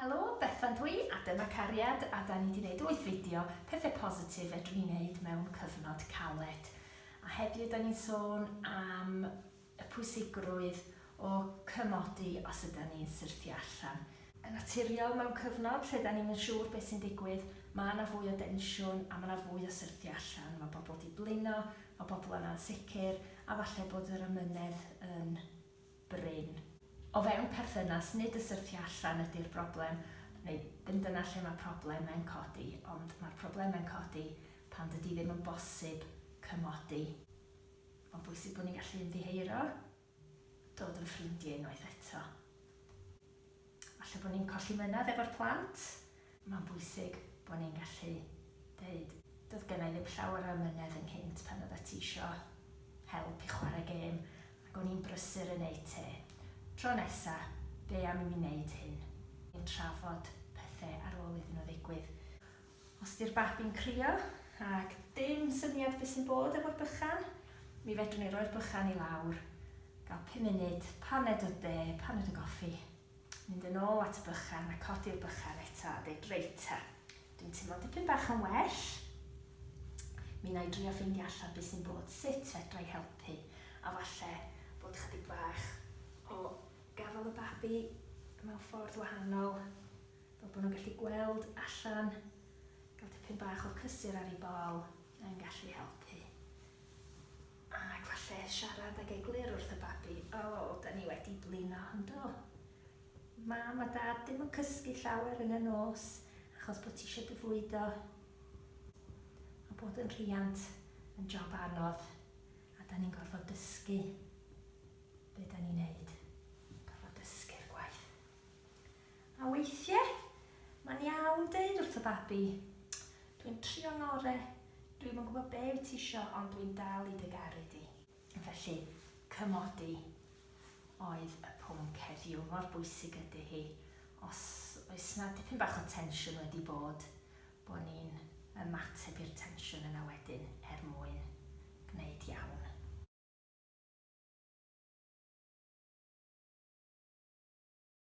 Helo, Bethan dw i a dyma Cariad a 'da ni 'di 'neud wyth fideo pethe positif fedrwn ni 'neud mewn cyfnod caled. A heddiw 'da ni'n sôn am y pwysigrwydd o cymodi os ydan ni'n syrthio allan. Yn naturiol mewn cyfnod lle 'dan ni'm yn siŵr beth sy'n digwydd, ma' 'na fwy o densiwn a ma' 'na fwy o syrthio allan, ma' bobl 'di blino, ma' bobl yn ansicr, A falle bod yr amynedd yn brin. O fewn perthynas, nid y syrthio allan ydy'r broblem, neu ddim dyna lle mae problemau'n codi, ond mae'r problemau'n codi pan dydy ddim yn bosib cymodi. Mae'n bwysig bod ni'n gallu ymddiheuro, dod yn ffrindiau unwaith eto. Falle bod ni'n colli mynadd efo'r plant. Mae'n bwysig bod ni'n gallu deud, 'Doedd genna i ddim llawer o amynedd ynghynt pan oeddet ti isio help i chwarae gêm, ac o'n i'n brysur yn eu te. Tro nesa, be am i mi wneud hyn? Ni'n trafod pethe ar ôl iddyn nhw ddigwydd. Os di'r babi'n crio ac dim syniad be sy'n bod efo'r bychan, mi fedrwn ni roi'r bychan i lawr, gael pum munud, paned o de, paned o goffi, mynd yn ôl at y bychan a codi'r bychan eto a deud, reit ta, dwi'n teimlo'n dipyn bach yn well, mi wna i drio ffeindio allan be sy'n bod, sut fedra i helpu, a falle bod ychydig bach o gafael y babi mewn ffordd wahanol. Fel bod nhw'n gallu gweld allan, gael tipyn bach o cysur ar ei bol yn gallu helpu. Ac falle siarad ag eglur wrth y babi, O, da ni wedi blino, yn do? Mam a Dad ddim yn cysgu llawer yn y nos achos bod ti eisiau dy fwydo. Mae bod yn rhiant yn job anodd a da ni'n gorfod dysgu be da ni'n neud. Gorfod dysgu'r gwaith. A weithie, mae'n iawn deud wrth y babi, Dwi'n trio ngore, dwi'm yn gwybod be wyt ti isio ond dwi'n dal i dy garu di. Felly, cymodi oedd y pwnc heddiw, mor bwysig ydy hi. Os oes na dipyn bach o tensiwn wedi bod, bod ni'n ymateb i'r tensiwn yna wedyn er mwyn gwneud iawn.